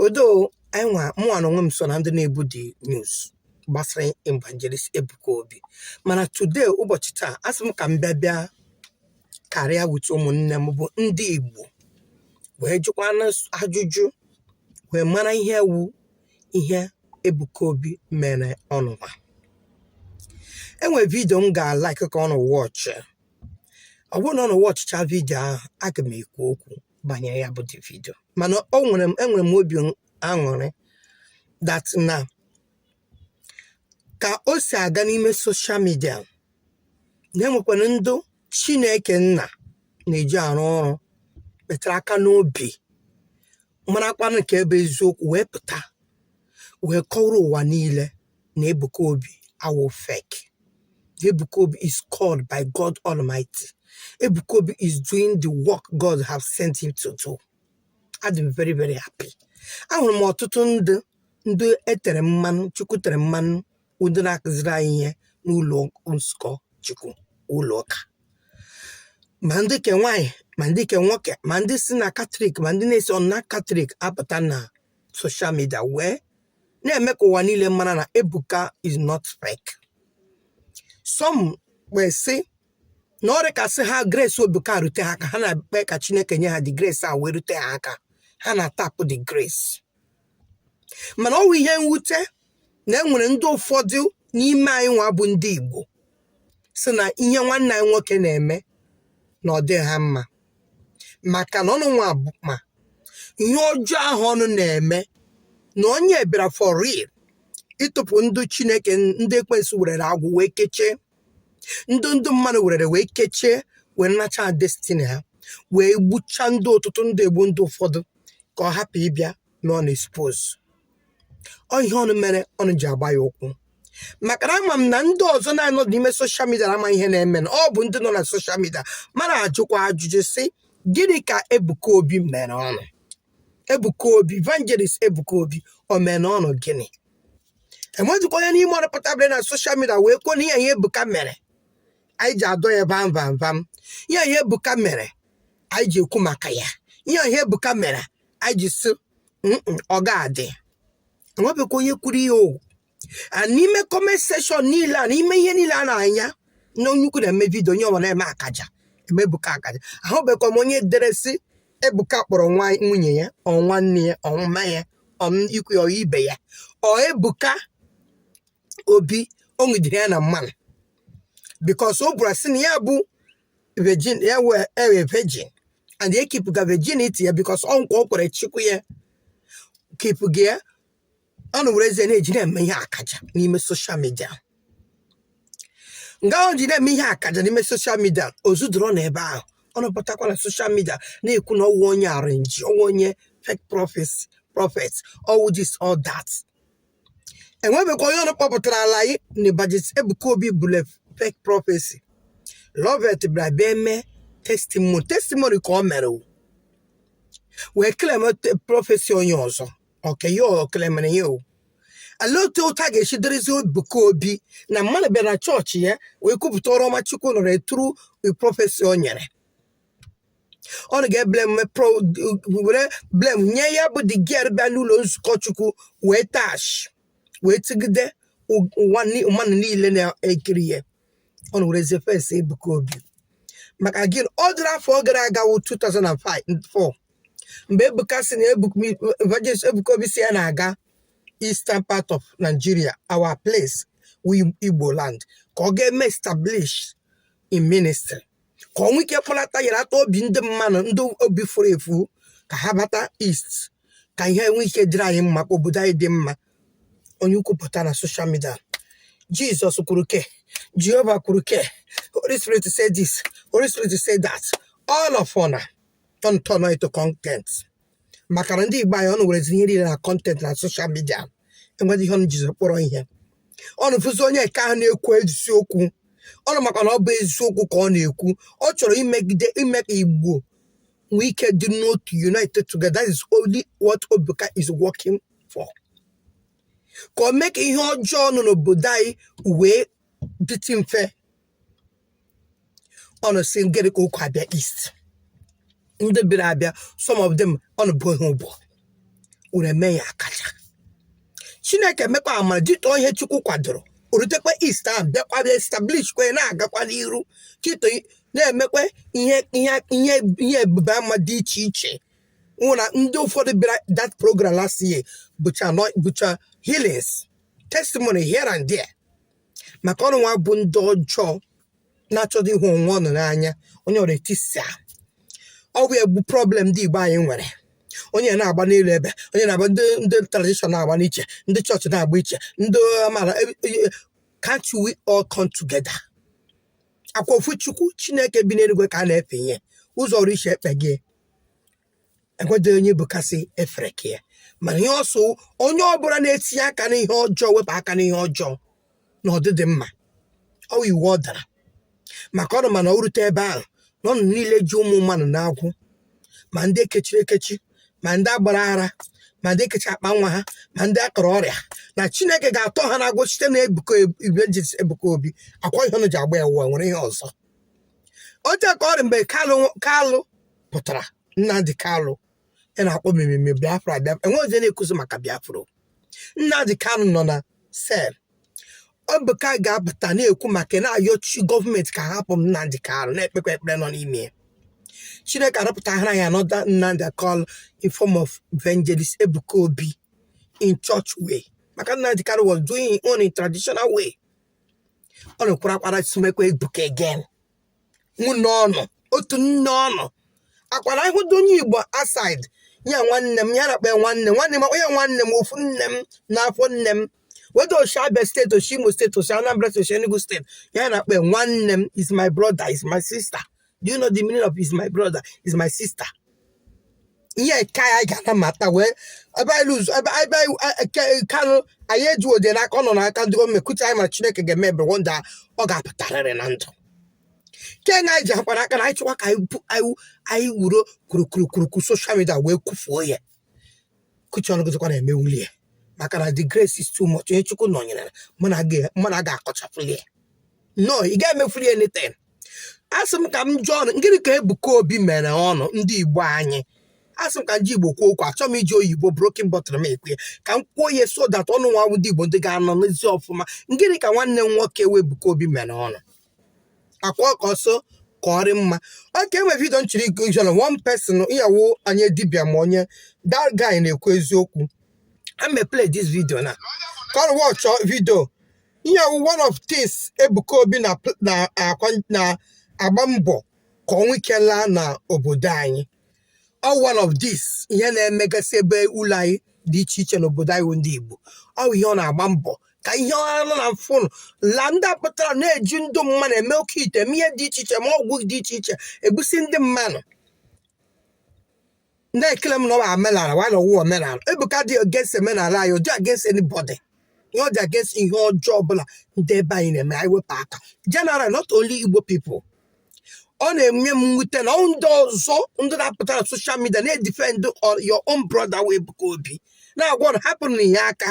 although mụnwa na onwe m so na ndị na-ebu the news gbasara evangelist Ebuka Obi mana today ụbọchị taa asị m ka m bịa bịa karịa with ụmụnne m bụ ndị Igbo wee jụkwanụ ajụjụ wee mara ihe wu ihe Ebuka Obi mere ọnụnwa enwere vidio m ga-alaik ka ọnụ wọchị ọ bụrụ na ọnụ wọchịcha vidio ahụ aga m ekwu okwu banyere ya bụ the vidio mana enwere m obi aṅụrị that na ka o si aga n'ime soshal midia na-enwekwara ndị Chineke nna na-eji arụ ọrụ metara aka n'obi marakwanụ nke bụ eziokwu wee pụta wee kọọrọ ụwa niile na Ebuka Obi awụghị fake. Ebuka Obi is called by God Almighty. Ebuka Obi is doing the work God have sent him to do. Adị m very very happy. Ahụrụ m ọtụtụ ndị ndị etere mmanụ Chukwu tere mmanụ ndị na-akụziri anyị ihe n'ụlọ nzukọ Chukwu ụlọ ụka ma ndị ke nwaanyị ma ndị ke nwoke ma ndị si na katọlik ma ndị na-esirọ na katọlik apụta na soshal midia wee na-eme ka ụwa niile mara na Ebuka is not fake some wee sị na ọ dị ka sị ha grace Ebuka rute ha aka ha na-ekpe ka Chineke nye ha the grace a wee rute ha aka ha na-atapụ the grace mana ọ wụ ihe mwute na e nwere ndị ụfọdụ n'ime anyị nwa bụ ndị Igbo sị na ihe nwanne anyị nwoke na-eme na ọ dịghị ha mma maka na ọnụ nwa bụ ma ihe ọjọọ ahụ ọnụ na-eme na onye bịara for real ịtọpụ ndị Chineke ndị ekwensu werere agwụ wee kechie ndị ndị mmadụ werere wee kechie wee nacha destiny ha wee gbuchaa ndị ọtụtụ ndị egbu ndị ụfọdụ ka ọ hapụ ịbịa na ọ na-expose ọ ihe ọnụ mere ọnụ ji agba ya ụkwụ maka na ama m na ndị ọzọ na-anọ n'ime soshal midia na ama ihe na-eme na ọ bụ ndị nọ na soshal midia mara ajụkwa ajụjụ sị gịnị ka Ebuka Obi mere ọnụ Ebuka Obi Evangelist Ebuka Obi o mere ọnụ gịnị enwezikwa onye n'ime ọnụ pụtabịrị na soshal midia wee kwuo na ihe ihe Ebuka mere anyị ji adọ ya vam vam vam ihe ihe Ebuka mere anyị ji ekwu maka ya ihe ihe Ebuka mere anyị ji sị Mm-mm, ọ ga-adị enwebekwa onye kwuru ihe o a n'ime kọment seshọn niile a n'ime ihe niile a na-anya na onye ukwu na-eme vidio onye ọwa na-eme akaja eme ebuka akaja ahụbekwa m onye dere sị ebuka kpọrọ nwunye ya or nwanne ya or mma ya or m- ikwu ya or ibe ya or ebuka obi o nwudere ya na mmanụ because ọ bụrụ sị na ya bụ virgin ya wụ virgin and ya kipụga virginity ya because ọ nkwa o kwere chukwu ya kipụga ya ọnụ werezi na-eji na-eme ihe akaja n'ime social media nga ọ ji na-eme ihe akaja n'ime social media o zudoro n'ebe ahụ ọnụ pụtakwa na social media na-ekwu na ọ wụ onye arrange ọ wụ onye fake prophet ọ wụ this all that e nwebekwa onye ọnụ kpọpụtara ala anyị na Evangelist Ebuka Obi bule fake prophecy Loveth bịara bịa eme testimony testimony ka ọ mere o. wee claim prophecy onye ọzọ okay ya klemere ya o olee otu ụta ga-esi dịrịzi Ebuka Obi na mmadụ bịara na chọọchị ya wee kwupụta ọrụ ọma Chukwu nọrọ through prophecy o nyere ọnụ ga-ewere blame nye ya bụ the girl bịa n'ụlọ nzukọ chukwu wee tụọ ashị wee tụgide ụ- ụwa ni- mmadụ niile na-ekiri ya ọnụ werezie face ebuka obi maka gịnị ọ dịrị afọ ọ gara aga wụ 2004 mgbe ebuka sị na Ebuka- evangelist ebuka obi sị ya na-aga eastern part of nigeria our place wụ igbo land ka ọ ga-eme establish his ministry ka o nwee ike kpọlata yere ata obi ndị mmanụ ndị obi furu efu ka ha bata east ka ihe nwee ike dịrị anyị mma ka obodo anyị dị mma onye kwupụta na social media jesus kwuru ke jehova kwuru ke holy spirit say this holy spirit say that all of una don turn am to content maka na ndị igbo anyị ọnụ werezi ihe niile na content na social media enweghị ihe ọnụ jizi kpọrọ ihe ọnụ fụzi onye nke ahụ na-ekwu eziokwu ọnụ makwa na ọ bụ eziokwu ka ọ na-ekwu ọ chọrọ ime ka igbo nwee ike dị n'otu united together that is only what ebuka is working for ka o mee ka ihe ọjọọ nọ n'obodo anyị wee dịtị mfe ọnụ sị gịrị ka ụkọ abịa east ndị bịara abịa some of them ọnụ boo ha ebubo were mee ha akaja chineke emekwa amara jitọ ihe chukwu kwadoro o rutekwa east ahụ bịakwa bịa establish wee na-agakwa n'iru chito na-emekwa ihe ebube ama dị iche iche ọ wụ na ndị ụfọdụ bịara that program last year bụcha nọ- bụcha healings testimony here and there maka ọnụ nwa bụ ndị ọjọọ na-achọdo ịhụ onwe ọnụ n'anya onye ọrụ etisa ọ bụ ya wụ problem ndị Igbo anyị nwere onye na-agba n'elu ebe onye na-agba ndị ndị tradition na-agba n'iche ndị chọọchị na-agba iche ndị amaala e, e, e, can't we all come together ọ kwa ofu chukwu chineke bi n'eluigwe ka a na-efe ihe ụzọ ọrụ iche ekpe gị enweghị onye ebuka sị efere ka ya mana ihe ọ sị onye ọbụla na-etinye aka n'ihe ọjọọ wepụ aka n'ihe ọjọọ na ọ dịghị mma ọ wụ iwu ọ dara maka ọnụ ma na o rute ebe ahụ na ọnụ niile ji ụmụ mmadụ n'agbụ ma ndị ekechiri ekechi ma ndị agbara ara ma ndị ekechi akpa nwa ha ma ndị akọrọ ọrịa na chineke ga-atọ ha n'agbụ site na evangelist ebuka obi ọ kwa ihe ọnụ ji agba ya ụwa nwere ihe ọzọ oche ka ọ dị mgbe kalụ kalụ pụtara Nnamdi Kanu ya na-akpọ mmemme Biafra Biafra enweghị onye na-ekwuzi maka Biafra o. Nnamdi Kanu nọ na sel Ebuka ga-apụta na-ekwu maka na-ayọchi gọọmenti ka a hapụ Nnamdi Kanu na-ekpekwa ekpere nọ n'ime ya Chineke arọpụtara ya another Nnamdi Kanu in form of evangelist Ebuka Obi in church way maka Nnamdi Kanu was doing his own in traditional way ọ na-ekwuru akwara sumekwa Ebuka again nwanne ọnụ otu nne ọnụ ọ kwara ị hụdị onye igbo outside ya nwanne m ya na-akpọ ya nwanne nwanne m akpọ ya nwanne m ofu nne m na afọ nne m whether o shi abia steeti o shi imo steeti o shi anambra steeti o shi enugu steeti ya na-akpọ ya nwanne m is my brother is my sister do you know the meaning of is my brother is my sister ihe nke anyị ga na-amata wụ ebe anyị lụzụ ebe ebe anyị eke kanụ anyị eji ọ dị n'aka ọ nọ n'aka ndị gọọmenti kutu anyị mara chineke ga-eme ebere one day ọ ga-apụtarịrị na ndụ nke na anyị ji akwara aka na anyị chịkwa ka anyị bu- anyị anyị wuro kwurukwurukwurukwu soshal midia wee kwufuo ya kuchi ọnụ gịzikwa emewuli ya maka na the grace is too much onye chukwu nọnyere mụ na gị mụ na gị akọchafuli ya no ị ga-emefuli anything asị m ka m jụọ ọnụ gịnị ka Ebuka Obi mere ọnụ ndị Igbo anyị asị m ka m ji Igbo kwuo okwu achọghị m iji oyibo broken bottle m ekwu ka m kwuo ihe so that ọnụ nwa ndị Igbo ndị ga-anụ n'ezi ọfụma gịnị ka nwanne m nwoke wụ Ebuka Obi mere ọnụ ọ kwa ka ọ sị ka ọ rị mma okay e nwe vidio nchiri ijọrọ one person ya wụ onye dibịa ma onye that guy na-ekwu eziokwu I'm play this video now ka ọ wọchọ vidio ihe a wụ one of things Ebuka Obi na-agba mbọ ka ọ nwee ike laa na obodo anyị ọ wụ one of this ihe na-emegasị ebe ụlọ anyị dị iche iche n'obodo anyị bụ ndị Igbo ọ wụ ihe ọ na-agba mbọ ka ihe ọ nọ na mfụnụ la ndị a pụtara na-eji ndị mmadụ eme oke ite eme ihe dị iche iche ma ọgwụ dị iche iche egbusi ndị mmadụ na-eclaim na ọ bụ omenala while na ọ wụghị omenala ebuka adịghị against omenala anyị ọ dịghị against anybody ihe ọ dị against ihe ọjọọ ọbụla ndị ebe anyị na-eme anyị wepụ aka general not only igbo people ọ na-enye m mwute na ọ wụ ndị ọzọ ndị na-apụta na soshal midia na-edifend your own brother wụ ebuka obi na-agwa ọnụ hapụnụ na ihe aka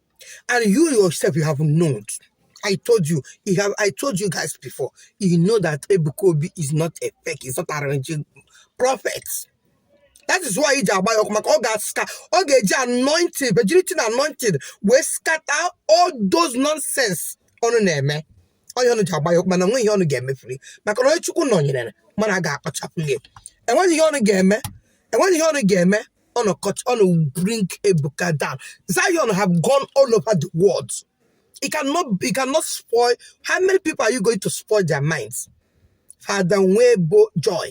And you yourself, you have known. I told you, you have, I told you guys before, you know that Ebuka Obi is not a fake, he's not arranging prophets. That is why iji agba ya ọkụ maka ọ ga-aska ọ ga-eji anointed virginity na anointed wee scatter all those nonsense ụnụ na-eme onye ụnụ ji agba ya ọkụ mana nweghị ihe ụnụ ga-emefuri maka na onye Chukwu nọnyere mmadụ aga-akpachapụ ya enweghị ihe ụnụ ga-eme enweghị ihe ụnụ ga-eme ụnụ cut ụnụ bring ebuka down zion have gone all over the world you cannot you cannot spoil how many people are you going to spoil their minds fada nwee bụ joy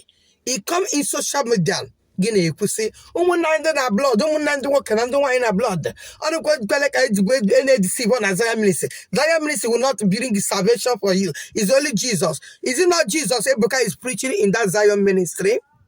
i come in social media gị na-ekwusị ụmụnna ndị na blood ụmụnna ndị nwoke na ndị nwaanyị na blood ụnụ ekwekwala ka ejigbo na-edeceive igbo na zion ministry zion ministry will not bring salvation for you it's only jesus is it not jesus ebuka is preaching in that zion ministry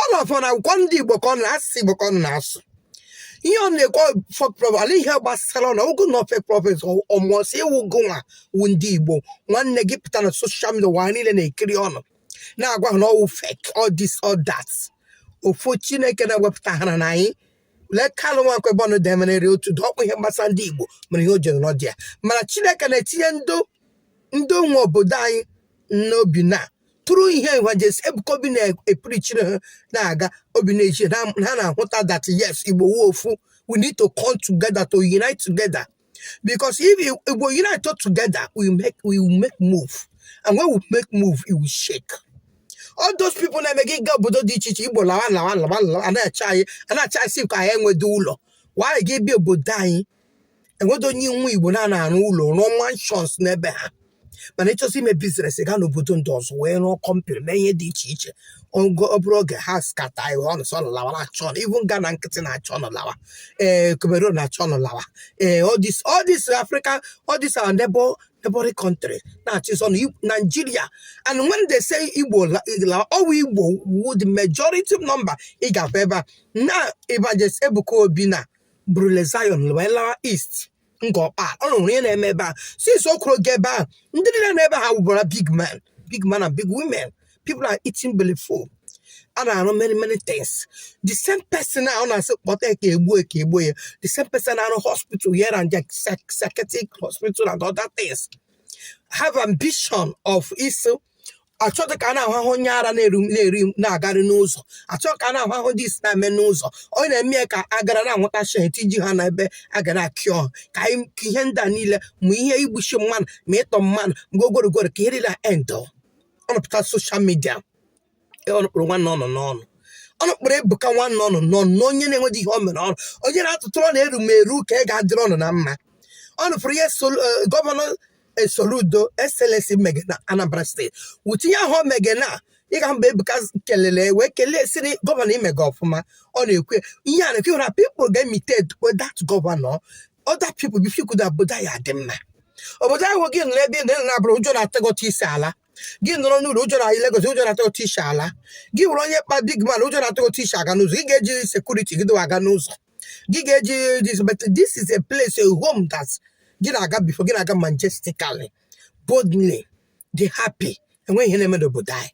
ọ nọfọ na akwụkwọ ndị igbo ka ọ na asụsụ igbo ka ọ na-asụ ihe ọ na-ekwu fake prophet ala ihe gbasara na ogo na fake prophet ọmụọsị ịwụ gị nwa wụ ndị igbo nwanne gị pụta na social media ụwa niile na-ekiri ụnụ na-agwa ha na ọ wụ fake all this all that ofu chineke na-ewepụtara anyị lee kalụ nwa nkwebe ọnụ demerere otu dị ọkpụ ihe gbasara ndị igbo mere ihe o jiri nọdị ya mana chineke na-etinye ndụ ndị nwe obodo anyị n'obi na through ihe evangelist ebuka obi na-epreachiri ha na-aga obi na-echi ha ha na-ahụta that yes igbo wụ ofu we need to come together to unite together because if you- igbo unite together we make we will make move and when we make move it will shake all those people na-eme gị gaa obodo dị iche iche igbo lawa lawa lawa lawa a na-achụ anyị a na-achụ anyị si ka anyị enwedụ ụlọ while gị bịa obodo anyị enwedụ onye nwa igbo na-ana arụ ụlọ rụọ mansions n'ebe ha mana e chọsị ime business gaa n'obodo ndị ọzọ wee rụọ company mee ihe dị iche iche oge ọ bụla oge ha scatter ihe ụnụ sị ụnụ lawa na-achụ ụnụ even Ghana nkịtị na-achụ ụnụ lawa ee Cameroon na-achụ ụnụ lawa ee all this all this Africa all this our neighbor neighboring country na-achụ sọ na Nigeria and when they say Igbo la- lawa ọ wụ Igbo wụ the majority number ị ga-afụ ebe a now Evangelist Ebuka Obi na burule Zion wee lawa East Ngor Okpala ụnụ nụrụ ihe na-eme ebe a since o kwuru oge ebe a ndị niile nọ ebe ha wụbara big man big man and big women people are eating belly full a na-arụ many many things the same person a ụnụ na-asị kpọta ya ka e gbuo ya ka e gbuo ya the same person na-arụ hospital here and there psych- psychiatric hospital and other things have ambition of iso achọdụ ka a na-ahụ ahụ onye ara na-eru na-eri na-agarị n'ụzọ achọghị ka a na-ahụ ahụ ndị isi na-eme n'ụzọ ọ na-eme ya ka a gara na-anwụtasị ha tinye ha na ebe a ga na-acure ha ka anyị ka ihe ndị a niile ma ihe igbuchi mmadụ ma ịtọ mmadụ mgbe ogorogoro ka ihe niile a end ụnụ apụta social media e, ọnụ kpụrụ nwanne ọnụ n'ọnụ ọnụ kpụrụ Ebuka nwanne ọnụ n'ọnụ na onye na-enweghị ihe ọ mere ọnụ onye na-atụtụ ọ na-eru m eru ka ị ga-adịrị ọnụ na mma ọnụ fụrụ ihe Sol- eh, gọvanọ eh, Soludo SLS mege na Anambra steeti wuti ihe ahụ o mege na ị ga mba ebuka kelele wee kelee sịrị gọvanọ imega ọfụma ọ na-ekwe ihe a na-ekwe ọda pipụl ga-emitate dat gọvanọ ọda pipụl bifikwuda obodo ya dị mma obodo ahụ gị nọrọ ebe ị nọ abroad ụjọ na-atụ gị otu ị si ala gị nọrọ n'ụlọ ụjọ na Lagos ụjọ na-atụ otu ị si ala gị wụrụ onye kpa big man ụjọ na-atụ otu ị si aga n'ụzọ gị ga-eji sekuriti gị dịwa aga n'ụzọ gị ga-eji this but this is a place a home that gị na-aga before gị na-aga majestically boldly dị happy enweghị ihe na-eme n'obodo anyị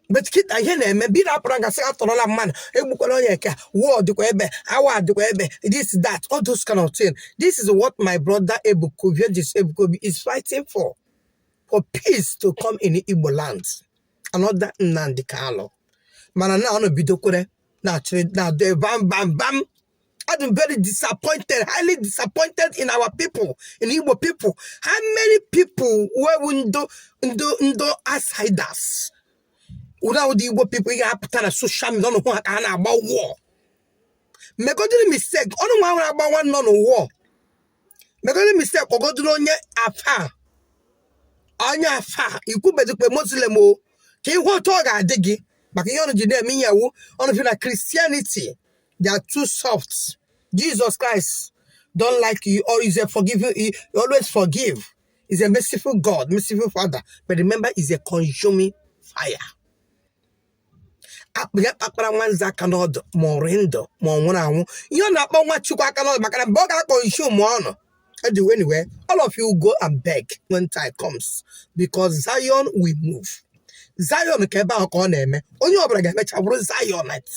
but kịta ihe na-eme bi na-apụrụ gasị atọrọla mmadụ egbukwala onye nke a war dịkwa ebe a war dịkwa ebe this that all those kind of thing this is what my brother Ebuka Evangelist Ebuka Obi is fighting for for peace to come in Igbo land another Nnamdi Kanu mana na ọnụ bidokwere na-achịrị na-adọ bam bam bam adị m very disappointed highly disappointed in our people in Igbo people how many people wụ ndo ndo ndo outsiders awụghị ndị Igbo people ha apụta na social media ọnụ hụ ha ka ha na-agba war megodiri mistake ọnụ nwa nwere agba nwanne ọnụ war megodiri mistake kpọgodiri onye afa onye afa ikwubedikpe muslim o ka ị hụ otu ọ ga-adị gị maka ihe ọnụ ji na-eme ihe a wụ ọnụ feel na Christianity they are too soft Jesus Christ don't like you or is a forgiving he always forgive he's a merciful god merciful father but remember he's a consuming fire akpa ya kpakpara nwanze aka n'ọdụ ma ọ rị ndụ ma ọ nwụrụ anwụ ihe ọ na-akpa nwa Chukwu aka n'ọdụ maka na mgbe ọ ga-aconsume ọnụ anyway, anyway, all of you go and beg when time comes because Zion will move. Zion ka ebe ahụ ka ọ na-eme onye ọbụla ga-emecha bụrụ Zionite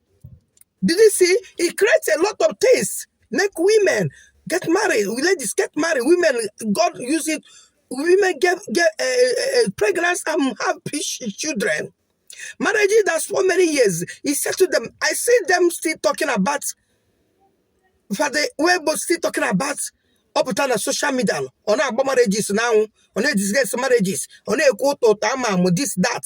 Did you see? He creates a lot of things. Make women get married. Ladies get married. Women, God use it. Women get get uh, uh, pregnant and have children. Marriages that's for many years. He said to them, I see them still talking about for the way but still talking about ọ pụta na soshal midia ọ na-agba marriages na anwụ ọ na-edisges marriages ọ na-ekwu ụtọ ụtọ ama amụ this that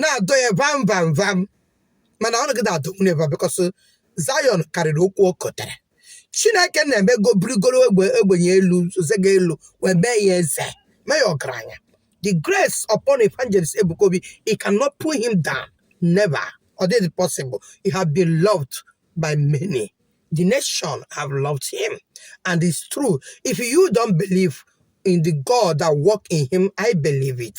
na-adọ ya vam vam vam mana ọnụ agaghị adọnwu never bịkọs Zion karịrị okwu o kotere Chineke na-eme go burugoro ogbe ogbenye elu zozega elu wee mee ya eze mee ya ọgaranya the grace upon evangelist Ebuka Obi he cannot pull him down never or is it possible he have been loved by many the nation have loved him and it's true if you don't believe in the God that work in him I believe it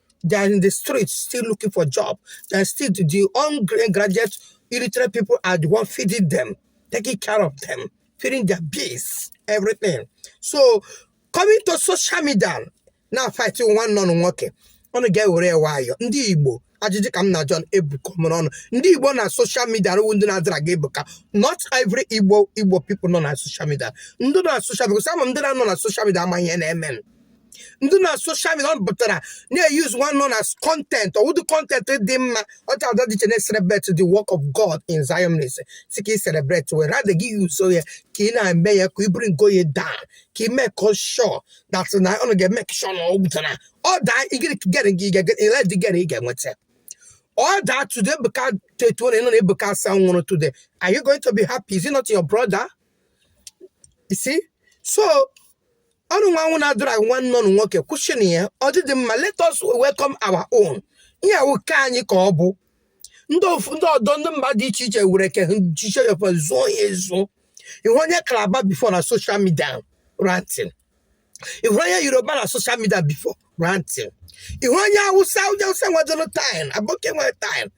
They are in the streets still looking for job. They are still the ungraduate illiterate people are the one feeding them, taking care of them, feeding their bills, everything. So coming to social media now fighting nwanne ọnụ nwoke. Ọnụ ga-ewere ya nwayọọ ndị Igbo ajụjụ ka m na-ajụ ọnụ Ebuka mere ọnụ ndị Igbo na soshal midia wụ ndị na-adrag Ebuka not every Igbo Igbo people nọ na soshal midia ndị nọ na soshal midia because some of them nọ na soshal midia amaghị ihe na-eme ndị na soshal midia ụnụ pụtara na-eyuzu nwanne ụnụ as kọntent ọ wụdị kọntent dị mma ọcha ọdọ dị iche na-celebrate the work of God in Zion ị sị ka ị celebrate were rather gị yuzo ya ka ị na-eme ya ka ị bringo ya down ka ị make sure that na ụnụ ga-emake sure na ọ gwụtara ọ daa gịrị gere gị ile dị gịrị ị ga-enweta ọ daa today Ebuka tetuo na ị nụ na Ebuka asa nwụrụ today are you going to be happy is it not your brother you see so ụnụ nwa ahụ na-adrag nwanne ụnụ nwoke kwụsịnụ ya ọ dịdị mma let us welcome our own ihe a wụ ke anyị ka ọ bụ ndị ofu ndị ọdọ ndị mba dị iche iche nwere ke jiche ya zụọ ya ezu ị hụ onye kalaba bifo na soshal midia rantin ị hụ onye yoruba na soshal midia bifo rantin ị hụ onye awụsa onye awụsa nwedịrị time aboki nwere time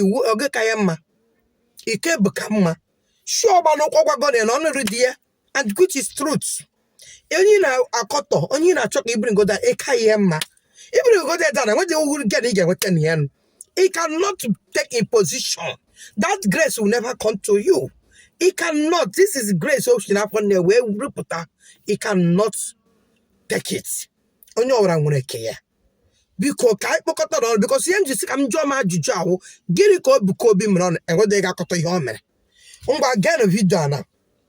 iwu oge ka ya mma ị ka Ebuka mma shi ọgbalụ ụkwụ gwago na ọnụrụ di ya and which is truth onye na-akọtọ onye na-achọ ka ị bringo down ị ka ya mma ị bringo down ọ dara nwedị uru gị na ị ga-enweta na ya nụ Ị cannot take his position. That grace will never come to you. It cannot. This is grace o shi n'afọ nne ya wee pụta Ị cannot take it. Onye ọbụla nwere nke ya. biko ka anyị kpọkọta ọnụ bikọs ihe m ji sị ka m jụọ m ajụjụ ahụ gịnị ka ebuka obi mere ụnụ enweghị onye ga-akọta ihe ọ mere ngwa gaa na vidio a na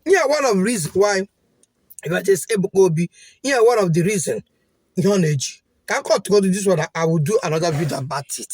ihe one of reason why evangelist ebuka obi ihe one of the reason ihe ọ na-eji ka m kọtụgodo this one I will do another video about it